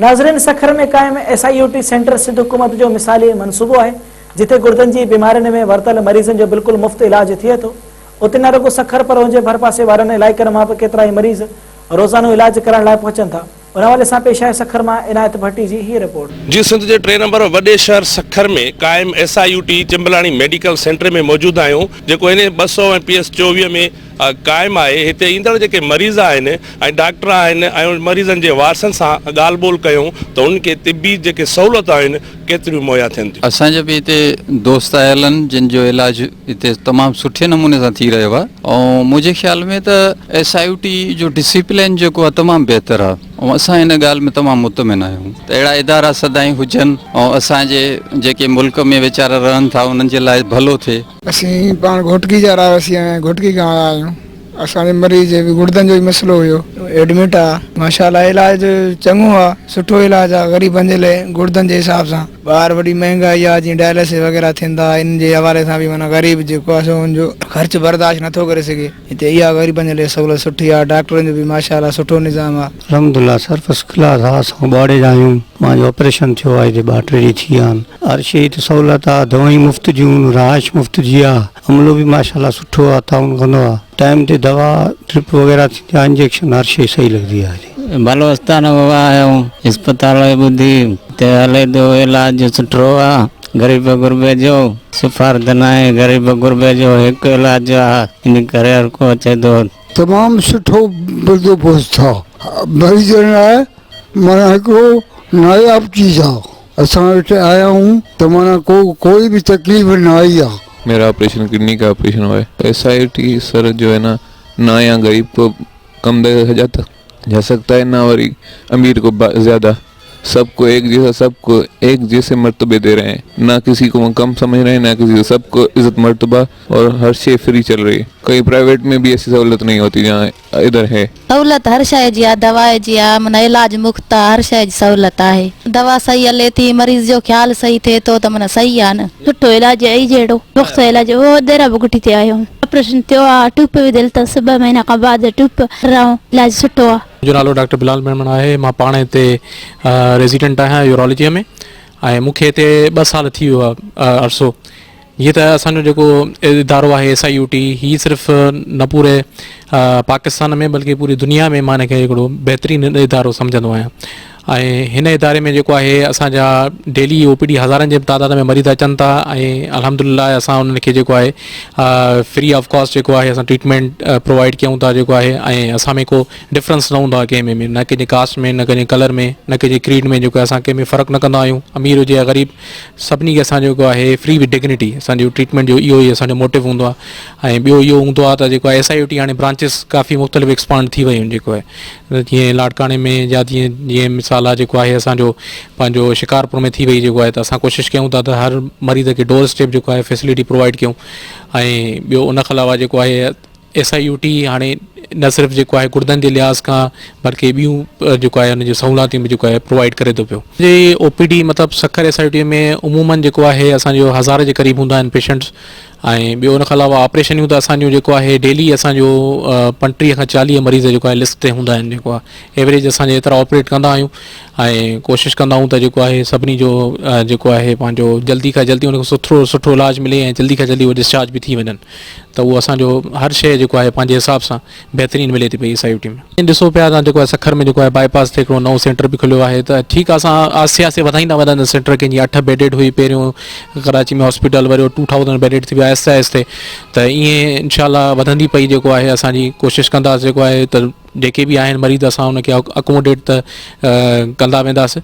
ناظرين سکر ۾ قائم S I U T centre Sindh حڪومت جو مثالي منصوبو آهي جتي گڙدن جي بيمارين ۾ ورتل مريضن جو بلڪل مفت علاج ٿئي ٿو اتي نه رڳو سکر پر ان جي ڀرپاسي وارن علائقن مان به ڪيترائي مريض روزانو علاج ڪرائڻ لاء پهچن ٿا ان حوالي سان پيش آهي سکر مان عنايت ڀٽي جي هيء رپورٽ. جي سنڌ جي ٽئين نمبر وڏي شهر سکر ۾ قائم S I U T Chamblani medical centre ۾ موجود آهيون جيڪو اين ايچ ٻه سؤ ۽ پي ايس چوويهه ۾ قائم آهي هتي ايندڙ جيڪي مريض آهن ۽ ڊاڪٽر آهن ۽ مريضن جي وارثن سان ڳالهه ٻولهه ڪيون ته هنن کي طبي جيڪي سهولتون آهن ڪيتريون مهيا ٿين ٿيون. اسان جا به هتي دوست آيل آهن جن جو علاج هتي تمام سٺي نموني سان ٿي رهيو آهي ۽ منهنجي خيال ۾ ته ايس آء يو ٽي جو ڊسيپلين جيڪو آهي تمام بهتر آهي ۽ اسان ان ڳالهه ۾ تمام مطمئن آهيون ته اهڙا ادارا سدائين هجن ۽ اسان جي جيڪي ملڪ ۾ ويچارا رهن ٿا انهن جي لاء ڀلو ٿئي. اسين پاڻ گهوٽڪي جا رهواسي ۽ گهوٽڪي کان آيا آهيون اسان جي مريض جي به گڙدن جو ئي مسئلو هيو. ايڊمٽ آ ماشاء الله علاج ته چڱو آ سٺو علاج آ غريبن جي لئه گڙدن جي حساب سان ٻاهر وڏي مهنگائي آ جيئن ڊائلسس وغيره ٿين ٿا ان جي حوالي سان به معنيٰ غريب جيڪو آ سو ان جو خرچ برداشت نٿو ڪري سگهي. هتي اها غريبن جي لاء سهولت سٺي آ ڊاڪٽرن جو به ماشاء الله سٺو نظام آ. الحمدالله سر فسٽ ڪلاس آ سائون ٻوهاڙي جا آهيون مان جو آپريشن ٿيو آ هتي ٻه ٽي ڏينهن ٿي ويا آهن هر شي هتي سهولت آ دوائيون مفت جون رهائش مفت جي آ عملو به ماشاء الله سٺو آ تعاون ڪندو آ ٽائيم تي دوا ڊرپ وغيره ٿيندي آ انجيڪشن هر شي صحيح لڳندي آ هتي. بلوچستان ويا آهيون اسپتال جي ٻڌي ته هلي ٿو علاج سٺو آ غريب غربي جو سفارت ناهي غريب غربي جو هڪ علاج آ ان ڪري هر ڪو اچي ٿو. تمام سٺو بندوبست ٿا مريضن لاء معنيٰ هڪڙو ناياب چيز آ اسان وٽ آيا آهيون ته معنيٰ ڪو ڪوئي به تڪليف نه آئي آ. ميرا آپريشن ڪڊني ڪا آپريشن هو ايس آئي ٽي سر جو هي نا نا يا غريب ڪو. ڪنبه حجت جا سکتا انا وري امير ڪو زياده سب ڪو ايڪ جيسا سب ڪو ايڪ جيسي مرتبي تي رهي نه ڪسي ڪو ڪم سمجھ رهي نه ڪسي ڪو سب ڪو عزت مرتبه اور هر شي فري چل رهي ڪهين پرائيويٽ ۾ به ايسي سهولت نهي هوتي جهان ادھر هي. سهولت هر شي جي آ دوا جي آ من علاج مفت آ هر شي جي سهولت آهي دوا صحيح هلي ٿي مريض جو خيال صحيح ٿي ٿو ته من صحيح آ نه. سٺو علاج اي جهڙو پختو علاج اهو ديرا بگٽي تي آيو هوم آپريشن ٿيو آ ٽيوپ به دل تس ٻه مهينا کان بعد ٽيوپ هرائون علاج سٺو آ. منهنجو نالو ڊاڪٽر بلال ميمڻ آهي مان پاڻ هتي ريزيڊنٽ آهيان يورالاجيء ۾ ۽ مون کي هتي ٻه سال ٿي ويو آهي عرصو جيئن ته اسان جو جيڪو ادارو آهي ايس آء يو ٽي هي صرف نه پوري پاڪستان ۾ بلڪه پوري دنيا ۾ مان هن کي هڪڙو بهترين ادارو سمجهندو آهيان ۽ هن اداري ۾ جيڪو آهي اسان جا ڊيلي او پي ڊي هزارن جي تعداد ۾ مريض اچن ٿا ۽ الحمد لله اسان انهن کي جيڪو آهي فري آف ڪاسٽ جيڪو آهي اسان ٽريٽمينٽ پرووائڊ ڪيون ٿا جيڪو آهي ۽ اسان ۾ ڪو ڊفرنس نه هوندو آهي ڪنهن ۾ نه ڪنهن جي ڪاسٽ ۾ نه ڪنهن جي ڪلر ۾ نه ڪنهن جي ڪريڊ ۾ جيڪو اسان ڪنهن ۾ فرق نه ڪندا آهيون امير هجي يا غريب سڀني کي اسان جيڪو آهي فري وٿ ڊگنيٽي اسانجو ٽريٽمينٽ جو اهو ئي اسانجو موٽو هوندو آهي ۽ ٻيو اهو هوندو آهي ته جيڪو آهي ايس آء يو ٽي هاڻي برانچز ڪافي مختلف ايڪسپانڊ ٿي ويون جيڪو آهي جيئن لاڙڪاڻي ۾ يا جيئن جيئن مثال آ جيڪو آهي اسان جو پنهنجو شڪارپور ۾ ٿي وئي جيڪو آهي ته اسان ڪوشش ڪيون ٿا ته هر مريض کي ڊور اسٽيپ جيڪو آهي فيسلٽي پرووائيڊ ڪيون ۽ ٻيو ان کان علاوه جيڪو آهي ايس آء يو ٽي هاڻي نه صرف جيڪو آهي گردن جي لحاظ کان بلڪه ٻيون جيڪو آهي ان جون سهولاتيون به جيڪو آهي پرووائيڊ ڪري ٿو پيو جي او پي ڊي مطلب Sukkur S I U T ۾ عمومن جيڪو آهي اسان جو هزار جي قريب هوندا آهن پيشنٽس ۽ ٻيو ان کان علاوه آپريشنيون ته اسان جون جيڪو آهي ڊيلي اسان جو پنٽيهه کان چاليهه مريض جيڪو آهي لسٽ تي هوندا آهن جيڪو آهي ايوریج اسان جي ايترا آپريٽ ڪندا آهيون ۽ ڪوشش ڪندا آهيون ته جيڪو آهي سڀني جو جيڪو آهي پنهنجو جلدي کان جلدي ان کي سٿرو سٺو علاج ملي ۽ جلدي کان جلدي ڊسچارج به ٿي وڃن ته اهو اسان جو هر شيء جيڪو آهي پنهنجي حساب سان بهترين ملي ٿي پئي ايس آء يو ٽي ۾ ۽ ڏسو پيا تان جيڪو آهي سکر ۾ جيڪو آهي باء پاس تي هڪڙو نئون سينٽر به کليو آهي ته ٺيڪ آهي اسان آهستي آهستي وڌائيندا وينداسين سينٽر کي جيئن اٺ بيڊيڊ هئي پهريون ڪراچي ۾ هاسپيٽل وري ٽو ٿائوزنڊ بيڊيڊ ٿي ويو آهستي آهستي ته ائين انشاء الله وڌندي پئي جيڪو آهي اسان جي ڪوشش ڪنداسين جيڪو آهي ته جيڪي به آهن مريض اسان ان کي اڪوموڊيٽ ته ڪندا وينداسين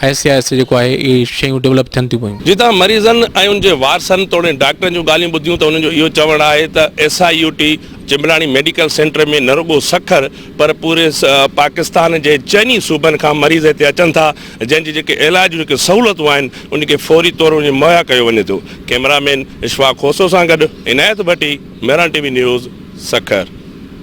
آهستي آهستي جيڪو آهي اهي شيون ڊولپ ٿين ٿيون پيون. جتان مريضن ۽ ان جي وارثن توڻي ڊاڪٽرن جون ڳالهيون ٻڌيون ته انهن جو اهو چوڻ آهي ته S I U T Chamblani medical centre ۾ نه رڳو سکر پر پوري پاڪستان جي چئن ئي صوبن کان مريض هتي اچن ٿا جنهن جي جيڪي علاج جون جيڪي سهولتون آهن انهن کي فوري طور انهن کي مهيا ڪيو وڃي ٿو ڪئميرا مين اشفاق کوسو سان گڏ Inayat Bhatti Mehran T V news Sukkur.